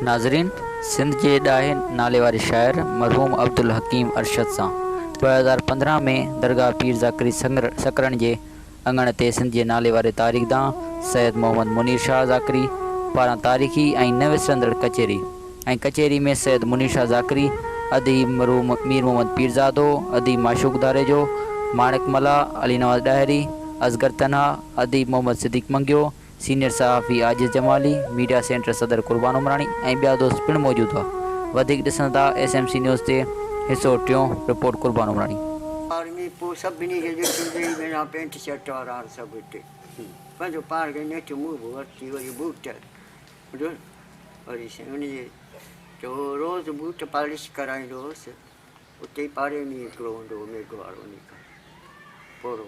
ناظرين سنڌ جي ڏاهي ناليواري شاعر مرحوم عبدالحڪيم ارشد سان 2015 ۾ درگاهه پير ذاڪري سڪرن جي اڱڻ تي سنڌ جي ناليواري تاريخدان سيد محمد منير شاهه ذاڪري پاران تاريخي ۽ نه وسرندڙ ڪچهري ۽ ڪچهري ۾ سيد منير شاهه ذاڪري، اديب مرحوم مير محمد پيرزادو، اديب معشوق ڌاريجو، ماڻڪ ملاح، علي نواز ڏاهري، اصغر تنها، اديب محمد صديق منگيو، سينيئر صحافي عاجز جمالي، ميڊيا سينٽر صدر قربان عمراڻي ۽ ٻيا دوست پڻ موجود هئا. وڌيڪ ڏسندا ايس ايم سي نيوز تي، حصو ٽيون، رپورٽ قربان عمراڻي. آرمي پوء سڀني کي لفٽون ڏيئي مينا پينٽ شرٽ وارا هر سڀ هتي پنهنجو پاڻ کي نيٺ مون به ورتي وري بوٽ جو وري سائين ان جي جو روز بوٽ پالش ڪرائيندو هوس اتي ئي پاڙي ۾ هڪڙو هوندو هو ميگهه وارو انهي کان پورو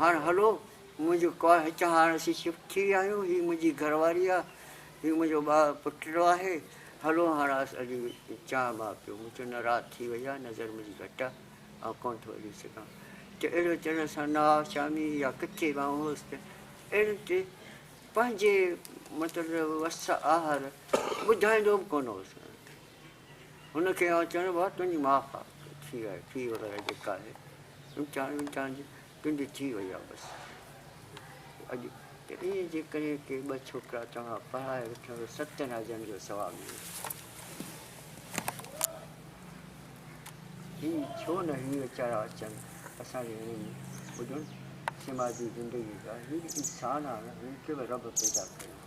هاڻ هلو منهنجي ڪار هتان هاڻ اسين شفٽ ٿي ويا آهيون هي منهنجي گهر واري آ هي منهنجو ٻار پٽڙو آهي هلو هاڻ آس هلي چانء ٻانء پيو مون چيو نه رات ٿي وئي آ نظر منهنجي گهٽ آ آئون ڪونه ٿو هلي سگهان ته اهڙو چڙ سان نه آ شامي يا ڪٿي به آئون هوس ته اهڙي تي پنهنجي مطلب وس آهر ٻڌائيندو به ڪونه هوس هن کي آء چيڻ ڀا تنهنجي ماء کان ڪي ٿي آهي، ٿي وغيره جيڪا آهي امتحان ومتحان جي تنهنجي ٿي وئي آهي بس. اڄ ته ائين جيڪڏهن ڪي ٻه ڇوڪرا توهان پڙهائي وٺن ته ستن حجن جو ثواب ملي ٿو. هي ڇو نه هي ويچارا اچن اسان جي وڃي ۾ ٻڌن سماجي زندگي جا هي به انسان آهن هن کي به رب پيدا ڪيو آهي.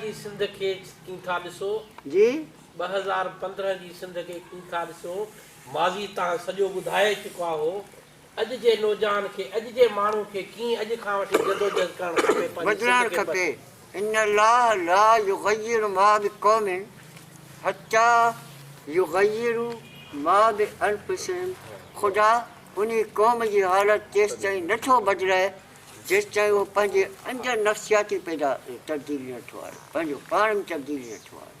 جي سنڌ کي ڪين ٿا ڏسو؟ جي؟ ٻه هزار پندرهن جي سنڌ کي ڪين ٿا ڏسو؟ ماضي تان سڄو ٻڌائي چڪا هو. اڄ جي نوجان کي اڄ جي ماڻهو کي ڪيئن اڄ کان وٺي جدوجهد ڪرڻ کپي پنهنجي سنڌ بدلائڻ کي کپي ان الله لا يغير ما بقوم حتي يغيرو ما بانفسهم خدا انهي قوم جي حالت تيستائين نه ٿو بدلائي جيستائين اهو پنهنجي اندر نفسياتي پيدا تبديلي نه ٿو آڻي پنهنجو پاڻ ۾ تبديلي نه ٿو آڻي.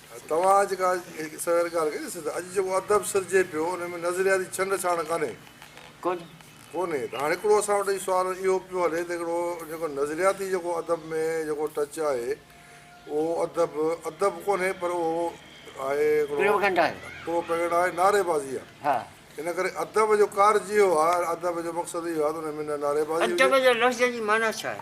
توهان جيڪا هڪ سوير ڳالهه ڪئي سي ته اڄ جيڪو ادب سرجي پيو ان ۾ نظرياتي ڇنڊ ڇاڻ ڪانهي؟ ڪونهي ته هاڻي هڪڙو اسان وٽ سوال اهو پيو هلي ته هڪڙو جيڪو نظرياتي جيڪو ادب ۾ جيڪو ٽچ آهي اهو ادب ادب ڪونهي پر اهو آهي هڪڙو پروپيگنڊا آهي نعري بازي آهي ان ڪري ادب جو ڪارج اهو آهي ادب جو مقصد اهو آهي ته ان ۾ نه نعري بازي هجي. ادب جي لفظ جي معنيٰ ڇا آهي؟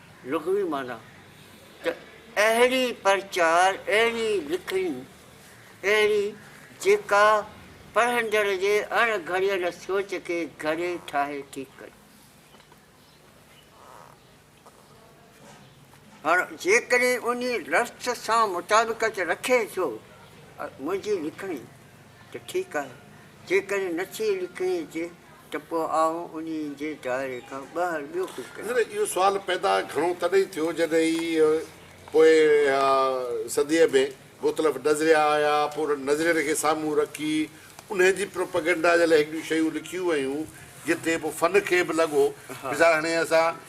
لغوي معنيٰ ته اهڙي پرچار، اهڙي لکڻي، اهڙي جيڪا پڙهندڙ جي اڻ گهڙيل سوچ کي گهڙي ٺاهي ٺيڪ ڪري. هاڻ جيڪڏهن انهي رسٽ سان مطابقت رکي ٿو منهنجي لکڻي. ته ٺيڪ آهي، جيڪڏهن نٿي لکڻي اچي ته پوء آئون انهي جي دائري کان ٻاهر ٻيو ڪجهه ڪيان. نه نه اهو سوال پيدا گهڻو تڏهن ٿيو جڏهن هي پوء صديء ۾ مختلف نظريا آيا پوء انهن نظرين کي سامهون رکي انهي جي پروپيگنڊا جي لاء هڪڙيون شيون لکيون ويون جتي پوء فن کي به لڳو مثال هاڻي اسان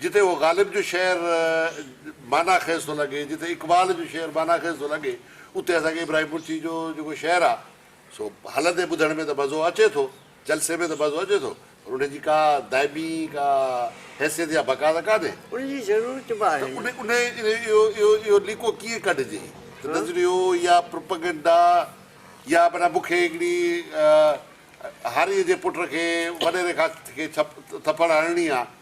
جتي اهو غالب جو شعر معنيٰ خيز ٿو لڳي، جتي اقبال جو شعر معنيٰ خيز ٿو لڳي، اتي اسان کي ابراهيم پورچي جو جيڪو شعر آ، سو هلندي ٻڌڻ ۾ ته مزو اچي ٿو، جلسي ۾ ته مزو اچي ٿو، پر ان جي ڪا دائمي ڪا حيثيت يا بقا ته ڪانهي. ان جي ضرورت به آهي نه. ته انهيء اهو ليڪو ڪيئن ڪڍجي؟ ته نظريو يا پروپئگنڊا يا معنيٰ مون کي هڪڙي هاريء جي پٽ کي وڏيري کان ٿڦڙ هڻڻي آ،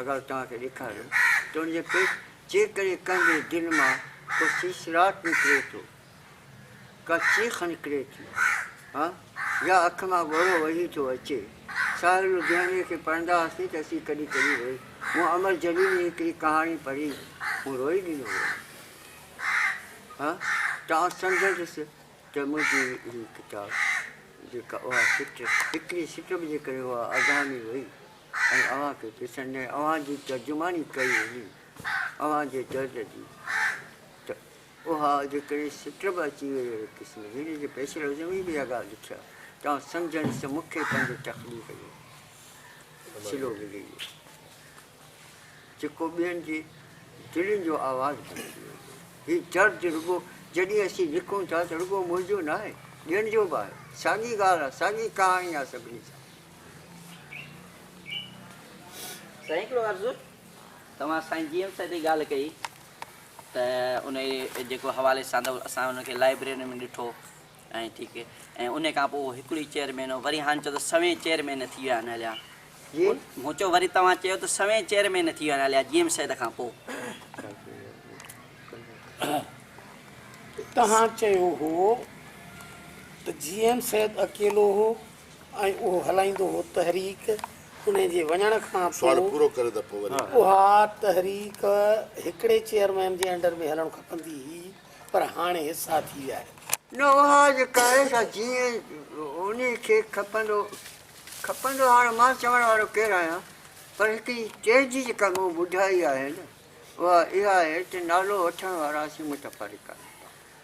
اگر توهان کي ڏيکاريم ته ان جي پيٽ جيڪڏهن ڪنهن جي دل مان ڪو سيسراٽ نڪري ٿو، ڪا چيخ نڪري ٿي ها يا اک مان ڳوڙهو وهي ٿو اچي. ساحر لڌياني کي پڙهندا هئاسين ته اسين ڪڏهن ڪڏهن روئي مون امر جليل جي هڪڙي ڪهاڻي پڙهي مون روئي ڏنو هو ها توهان سمجهندس ته منهنجي هي ڪتاب جيڪا اها سٽ هڪڙي سٽ به جيڪڏهن اها اڌاني وئي ۽ اوهان کي پسند نه آهي اوهان جي ترجماني ڪئي وڃي اوهان جي درد جي ته اها جيڪڏهن سٽ به اچي وئي اهڙي قسم جي هن جي پيش لفظ ۾ به اها ڳالهه لکي آهي توهان سمجهڻ سان مون کي پنهنجي تخليق جو سلو ملي ويو جيڪو ٻين جي دلين جو آواز بڻجي ويو هي درد رڳو جڏهن اسين لکون ٿا ته رڳو منهنجو نه آهي ٻين جو به آهي ساڳي ڳالهه آهي ساڳي ڪهاڻي آهي سڀني سان سائين هڪڙو عرض توهان سائين جي ايم سائين تي ڳالهه ڪئي ته ان جيڪو حوالي سان اسان ان کي لائبريري ۾ ڏٺو ۽ ٺيڪ ۽ ان کان پوء هڪڙي چيئرمين وري هاڻي چئو ته سوين چيئرمين ٿي ويا آهن هليا جي مون چيو وري توهان چيو ته سوين چيئرمين ٿي ويا آهن هليا جي ايم سيد کان پوء توهان چيو هو ته جي ايم سيد اڪيلو هو ۽ اهو هلائيندو هو تحريڪ انهي جي وڃڻ کان پوء اها تحريڪ هڪڙي چيئرمين جي انڊر ۾ هلڻ کپندي هئي پر هاڻي حصا ٿي ويا آهن. نه اها جيڪا آهي سا جيئن انهي کي کپندو کپندو هاڻي مان چوڻ وارو ڪير آهيان پر هڪڙي ٽيهجي جيڪا مون ٻڌائي آهي نه اها اها آهي ته نالو وٺڻ وارا اسين متفرق آهيون.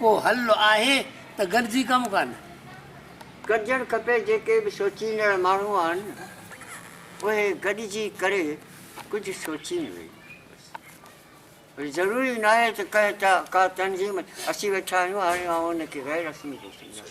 ڪو حل آهي ته گڏجي ڪم ڪن. ڪجڻ کپي جيڪي به سوچيندڙ ماڻهو آهن اهي گڏجي ڪري ڪجهه سوچين وئي وري ضروري ناهي ته ڪنهن ڪا تنظيم اسين ويٺا آهيون هاڻي آئون ان کي غير رسمي ڏسندس.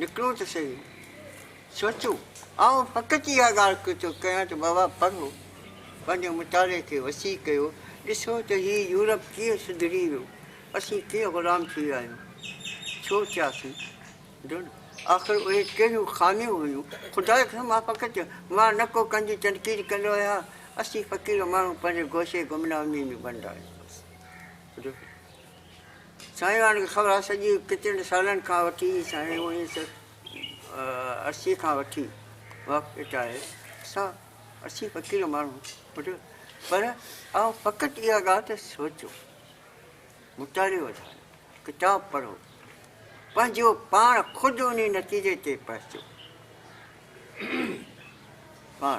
نڪرون ته سهي. سوچو، آئون فقط اها ڳالهه ڪري ٿو ڪيان ته بابا پڙهو، پنهنجي مطالعي کي وسيع ڪيو، ڏسو ته هي يورپ ڪيئن سڌري ويو، اسين ڪيئن غلام ٿي ويا آهيون، ڇو ٿياسين؟ ڊون، آخر اهي ڪهڙيون خاميون هيون؟ خدا جي قسم مان فقط مان نه ڪو ڪنهن جي تنقيد ڪندو آهيان، اسين فقير ماڻهو پنهنجي گوشي گمنامي ۾ بند آهيون. ڊون، سائين وارن کي خبر آهي سڄي ڪچهري سالن کان وٺي سائين اوڻيهه سئو اسي کان وٺي وقت اٽائي اسان اسين فقير ماڻهو پر پر آئون فقط اها ڳالهه ته سوچو مطالعو وڌايو ڪتاب پڙهو پنهنجو پاڻ خود ان نتيجي تي پهچو پاڻ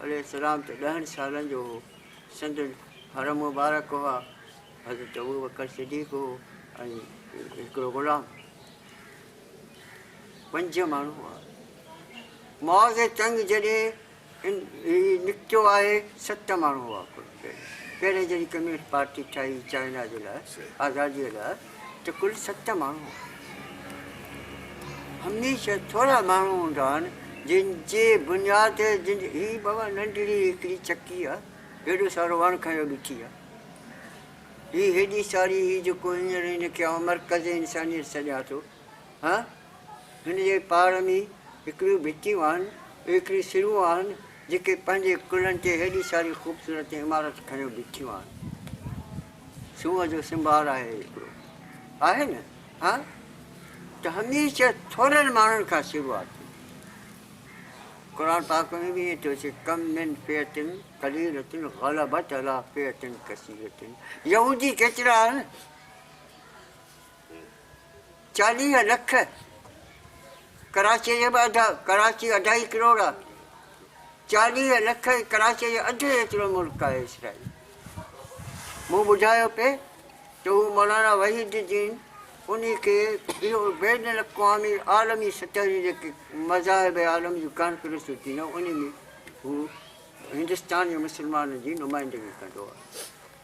عليه السلام ته ڏهن سالن جو هو، سندن حرم مبارڪ هئا، حضرت ابوبڪر صديق هو ۽ هڪڙو غلام. پنج ماڻهو هئا. معاذ جي چڱ جڏهن هي نڪتو آهي، ست ماڻهو هئا ڪل. پهرين جڏهن ڪميونسٽ پارٽي ٺاهي چائنا جي لاء آزاديء لاء ته ڪل ست ماڻهو هئا. هميشه ٿورا ماڻهو هوندا آهن جن جي بنياد تي جن هي بابا ننڍڙي هڪڙي چڪي آهي هيڏو سارو وڻ کنيو بيٺي آهي هي هيڏي ساري هي جيڪو هينئر هن کي آئون مرڪز انسانيت سڏيان ٿو. ها، هن جي پاڙ ۾ هڪڙيون ڀتيون آهن، ايڪڙيون سرون آهن، جيڪي پنهنجي ڪلهن تي هيڏي ساري خوبصورت عمارت کنيو بيٺيون آهن. سونهن جو سنڀار آهي هڪڙو. آهي نه؟ ها، ته هميشه ٿورن ماڻهن کان شروعات ٿيندي آهي. قرآن پاڪ ۾ به ائين ٿو اچي، ڪم من فئة قليلة غلبت علي فئة ڪثيرة يهودي ڪيترا آهن؟ چاليهه لک ڪراچيء جا به اڌ ڪراچي اڍائي ڪروڙ آ چاليهه لک ڪراچيء جا اڌ ايترو ملڪ آهي اسرائيل مون ٻڌايو پئي ته هو مولانا وحيد الدين انهي کي اهو بين الاقوامي عالمي سطح جي جيڪي مذاهب عالم جون ڪانفرنسون ٿينديون انهي ۾ هو هندستان جي مسلمانن جي نمائندگي ڪندو آهي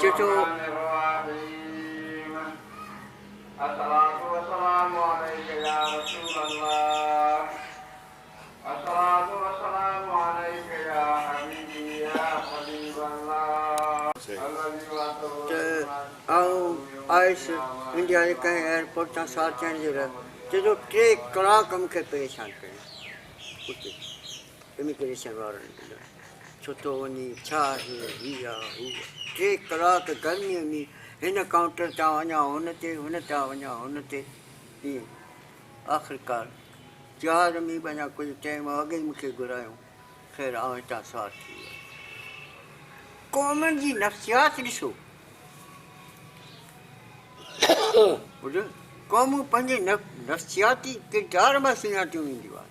چيچو ته آئون آيس انڊيا جي ڪنهن ايئرپورٽ تان ساڙ چئن جو رح چيچو ٽي ڪلاڪ مون کي پريشان ڪيو اتي اميگريشن وارن ڪيو ڇو ٿو وڃي ڇا آهي هي آ هو آ ٽي ڪلاڪ گرمي ۾ هن ڪائونٽر تان وڃان هن تي هن تان وڃان هن تي ائين آخرڪار جهاز ۾ به اڃا ڪجهه ٽائيم اڳ ئي مونکي گهرايو خير آئون هتان سار ٿي ويو قومن جي نفسيات ڏسو قومون پنهنجي نفسياتي ڪردار مان سڃاتيون وينديون آهن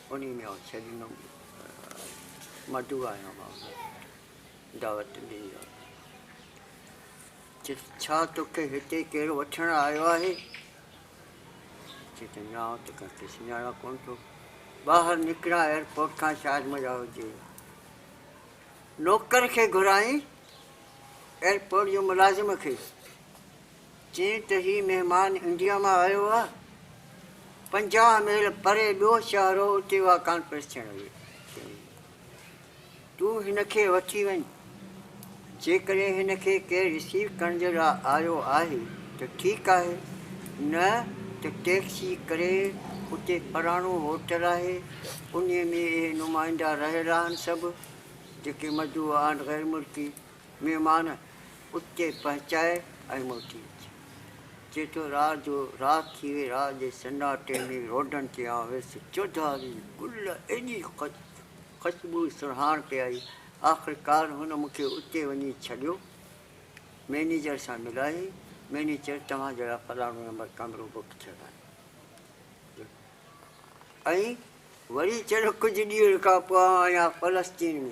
انهي ۾ آئون ڇڏيندم مدعو آهيان بابا دعوت ڏيندي چيس ڇا توکي هتي ڪير وٺڻ آيو آهي چي ته نه آئون ته ڪنهن کي سڃاڻان ڪونه ٿو ٻاهر نڪران ايئرپورٽ کان شايد مجا هجي نوڪر کي گهرائين ايئرپورٽ جو ملازم کي چين ته هي مهمان انڊيا مان آيو آ، پنجاهه ميل پري ٻيو شهر هو اتي اها ڪانفرنس ٿيڻ هئي، چيائين تون هن کي وٺي وڃ، جيڪڏهن هن کي ڪير رسيو ڪرڻ جي لاء آيو آهي ته ٺيڪ آهي نه ته ٽيڪسي ڪري اتي پراڻو هوٽل آهي انهي ۾ اهي نمائندا رهيل آهن سڀ جيڪي مدعو آهن غيرملڪي مهمان اتي پهچاء ۽ موٽي اچ. چئي ٿو راء جو رات ٿي وئي، راء جي سناٽي ۾ روڊن تي آء ويس، چوڌاري گل ايڏي خوشبوء سرهاڻ پئي آئي، آخرڪار هن مون کي اتي وڃي ڇڏيو، مئنيجر سان ملائي، مئنيجر چيو توهان جي لاء فلاڻو نمبر ڪمرو بڪ ٿيل آهي. ۽ وري چيو ڪجهه ڏينهن کان پوء آء آيان فلسطين ۾،